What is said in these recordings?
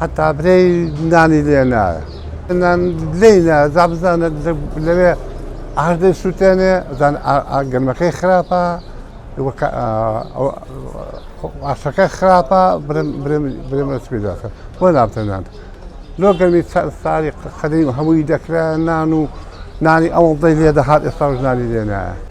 هەتا برێی نانی لێ نایە نان لێ نایە جا بزانە لەوێ ئاش دەی سووتێنێ زان گەرمەکەی خراپە ئاشەکە خراپە برێمە سپی دەکە بۆ نابتە نان لۆ گەرمی ساری قەدەی هەمووی دەکرا نان و نانی ئەوڵدەی لێ دەهات ئێستا ژنانی لێ نایە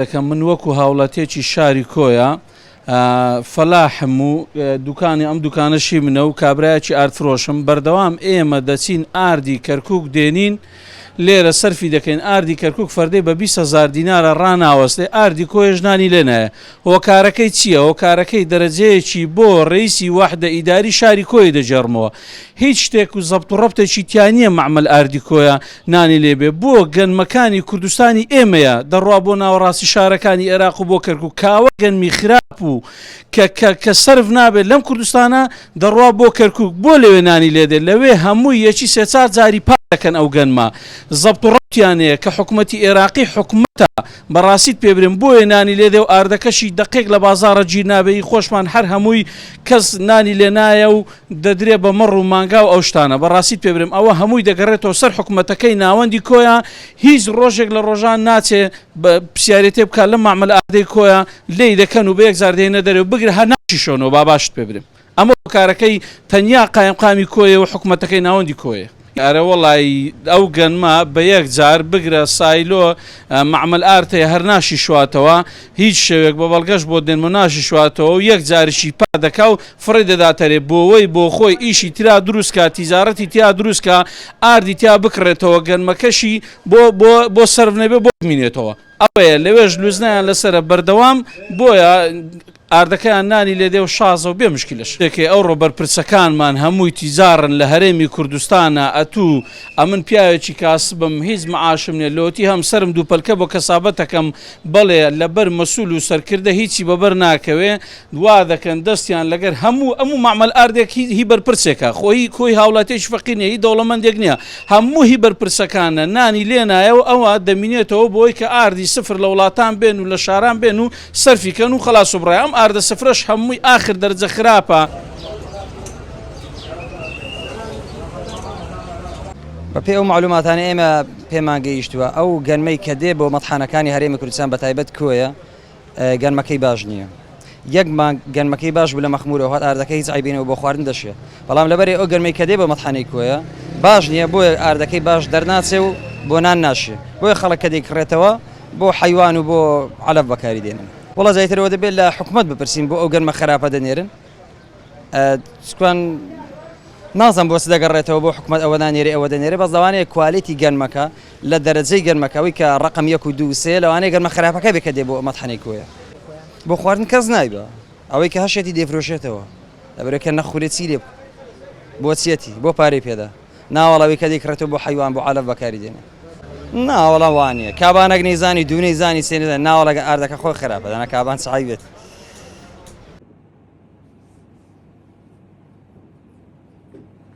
دەکەم من وەکو هاوڵاتیەکی شاری کۆیە فەلاحم و دوکانی ئەم دوکانەشی منە و کابراایکی ئارتفرۆشم بەردەوام ئێمە دەچین ئاردی کەرکک دێنین لێرە سەرفی دەکەین ئاردی کەرکک فەردەی بە 20هزار دینارە ڕناوەستێ ئاردی کۆێژنانی لێنایە هۆکارەکەی چییە؟ هۆکارەکەی دەرەجەیەکی بۆ رەیسی واحدە ئیداری شاری کۆیە دەگێڕمەوە. هیچ شتێک و زەبت و رەبتێکی تیا نییە مەعمەل ئاردی کۆیە نانی لێ بێ. بۆ گەنمەکانی کوردستانی ئێمەیە دەڕوا بۆ ناوەڕاستی شارەکانی ئێراق و بۆ کەرکوک کاوە گەنمی خراپ و کە کە کە سەرف نابێ لەم کوردستانە دەڕوا بۆ کەرکوک بۆ لەوێ نانی لێ دێ لەوێ هەمووی یەکی سێ چار جاری پاک دەکەن ئەو گەنمە زەبت و رەبتیانەیە کە حکومەتی ئێراقی حکومەتە بەڕاستیت پێ برێم بۆیە نانی لێ دێ و ئاردەکەشی دەقێک لە بازاڕە گیر نابێ ی خۆشمان هەر هەمووی کەس نانی لێ نایە و دەدرێ بە مەڕ و مانگا و ئەو شتانە بەڕاستیت پێ برێم ئەوە هەمووی دەگەڕێتەوە سەر حکومەتەکەی ناوەندی کۆیە هیچ ڕۆژێک لە ڕۆژان ناچێ پرسیارێ تێ بکا لەم مەعمەل ئاردەی کۆیە لێی دەکەن و بە یەک جار دێنە دەرێ و بگرە هەر ناشیشۆنەوە با باشت پێ برێم ئەمە هۆکارەکەی تەنیا قایمقامی کۆیە و حکومەتەکەی ناوەندی کۆیە. ئەرەوەڵای ئەو گەنمە بە یەک جار بگرە سایلۆ مەعمەل ئارتەیە هەر ناشیشواتەوە هیچ شەوێک بە بەڵگەش بۆت دێنمە ناشیشواتەوە و یەک جاریشی پا دەکا و فڕێ دەداتەرێ بۆوەی بۆ خۆی ئیشی ترا دروست کا تیجارەتی تیا دروست کا ئاردی تیا بکڕێتەوە گەنمەکەشی بۆ بۆ بۆ سەرف نەبێ بۆ بمینێتەوە ئەوەیە لەوێش لوزنەیان لەسەرە بەردەوام بۆیە ئاردەکەیان نانی لێدێ و شازە و بێ مشکلەش دەکەی ئەوڕۆ بەرپرسەکانمان هەمووی تیجاڕن لە هەرێمی کوردستانا ئەتوو ئەمن پیاوێکی کاسبم هیچ معاشم نیە لۆتی هەمسەرم دووپەلکە بۆ کەسابەتەکەم بەڵێ لەبەر مەسول و سەرکردە هیچی بەبەر ناکەوێ وادەکەن دەستیان لەگەر هەموو ئەموو مەعمەل ئاردێک هی هی بەرپرسێکە خۆ هی کۆی هاوڵاتیەکی فەقیر نیە هی دەوڵەمەندێک نیە هەموو هی بەرپرسەکانە نانی لێنایە و ئەوە دەمینێتەوە بۆی کە ئاردی سفر لە وڵاتان بێن و لە شاران بێن و سەرفی کەن و خەلاس و بڕە ئەم ئاردە سفرەش هەمووی ئاخر دەرجە خراپە. بە پێی ئەو معلوماتانەی ئێمە پێمان گەیشتووە ئەو گەنمەی کە دێ بۆ مەتحانەکانی هەرێمی کوردستان بە تایبەت کۆیە گەنمەکەی باش نییە یەک مانگ گەنمەکەی باش بوو لە مەخمورەوە هات ئاردەکە هیچ عیبینەوە بۆ خواردن دەشێ بەڵام لەبەری ئەو گەرمەی کە دێ بۆ مەتحانەی کۆیە باش نییە بۆیە ئاردەکەی باش دەرناچێ و بۆ نان ناشێ بۆیە خەڵک کە دەیکڕێتەوە بۆ حەیوان و بۆ عەلەف بەکاری دێنن. وەڵا زیاتر ئەوە دەبێت لە حکومەت بپرسین بۆ ئەو گەنمە خەراپە دەنێرن چکوان نازم بۆ دەگەڕێتەوە بۆ حکومەت ئەوە نانێری ئەوە دەنێری بەس لەوانەیە کوالیتی گەنمەکە لە دەرەجەی گەنمەکەەوەی کە ڕقم یەک و دووسێ لەوانەیە گەنمە خراپەکە بێکە دێ بۆ ئەمەتحەنێک کۆیە بۆ خواردن کەس نایبە ئەوەی کە هەشێتی دەفرۆشێتەوە لەبرەکە نەخورێ چی لێ بۆچیەتی بۆ پارەی پێدا نا وەڵا وی کەدی کڕێتەوە بۆ حەیوان بۆ عەلەف بەکاری دێنێ نا وەڵا وانیە کابان ئەگ نەیزانی دوو نەیزانی سێ نەزانی نا وەڵا ئاردەکە خۆی خراپە دەنا کابان چ عەیبێت.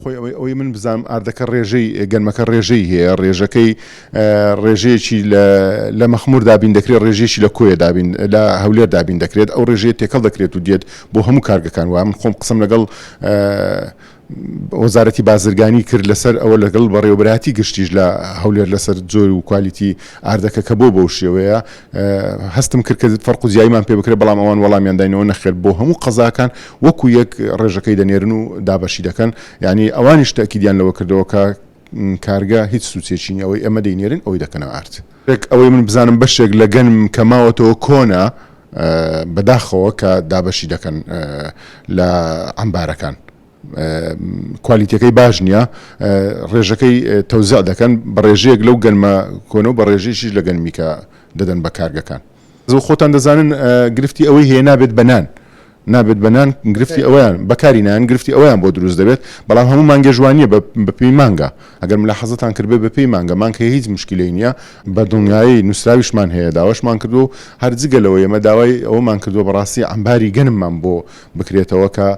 خۆی ئەوەی ئەوەی من بزانم ئاردەکە ڕێژەی گەنمەکە ڕێژەی هەیە ڕێژەکەی ڕێژەیەکی لە مەخمور دابین دەکرێت ڕێژێکی لە کۆیە دابین لە هەولێر دابین دەکرێت ئەو ڕێژەیە تێکەڵ دەکرێت و دێت بۆ هەموو کارگەکان وایە من خۆم قسم لەگەڵ وەزارەتی بازرگانی کرد لەسەر ئەوە لەگەڵ بەڕێوەبەرایەتی گشتیش لە هەولێر لەسەر جۆر و کوالیتی ئاردەکە کە بۆ بەو شێوەیە هەستم کرد کە فەرق و جیایمان پێ بکرێت بەڵام ئەوان وەڵامیان داینەوە نەخێر بۆ هەموو قەزاکان وەکو یەک ڕێژەکەی دەنێرن و دابەشی دەکەن یعنی ئەوانیش تاکیدیان لەوە کردەوە کە کارگە هیچ سوچێکی نیە ئەوەی ئەمە دەینێرن ئەوەی دەکەنە ئارد. ڕێک ئەوەی من بزانم بەشێک لە گەنم کە ماوەتەوە کۆنە بەداخەوە کە دابەشی دەکەن لە عەمبارەکان کوالیتەکەی باش نییە ڕێژەکەی تەوزع دەکەن بە ڕێژەیەک لەو گەنمە کۆنە و بە ڕێژەیەکیش لە گەنمی کە دەدەن بە کارگەکان. زۆ خۆتان دەزانن گرفتی ئەوەی هەیە نابێت بە نان نابێت بە نان گرفتی ئەویان بەکاری نان گرفتی ئەویان بۆ دروست دەبێت بەڵام هەموو مانگێژوانیە بە پێی مانگە ئەگەر ملا حەزتان کردێ بە پێی مانگە مانگ هەیە هیچ مشکلی نییە بە دڵنیایی نووسراویشمان هەیە داواشمان کردو هەرجگەلەوە ئێمە داوای ئەومان کردو بەڕاستی ئەمباری گەنممان بۆ بکرێتەوە کە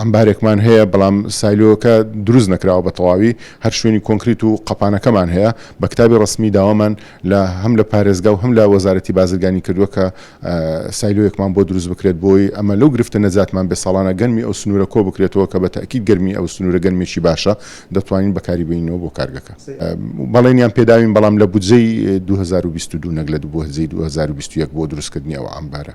عەمبارێکمان هەیە، بەڵام سایلۆکە دروست نەکراوە بە تەواوی، هەر شوێنی کۆنکریت و قەپانەکەمان هەیە، بە کتابی ڕەسمی داوامان لە هەم لە پارێزگا و هەم لە وەزارەتی بازرگانی کردووە کە سایلۆیەکمان بۆ دروست بکرێت بۆی ئەمە لەو گرفتە نەجاتمان بێت ساڵانە گەنمی ئەو سنوورە کۆ بکرێتەوە کە بە تەئکید گەرمی ئەو سنوورە گەنمێکی باشە دەتوانین بەکاری بێنینەوە بۆ کارگەکە بەڵێنیان پێداوین بەڵام لە بودجەی دوو هەزار و بیست و دوو نەک لە بودجەی دوو هەزار و بیست و یەک بۆ دروستکردنی ئەو عەمبارە.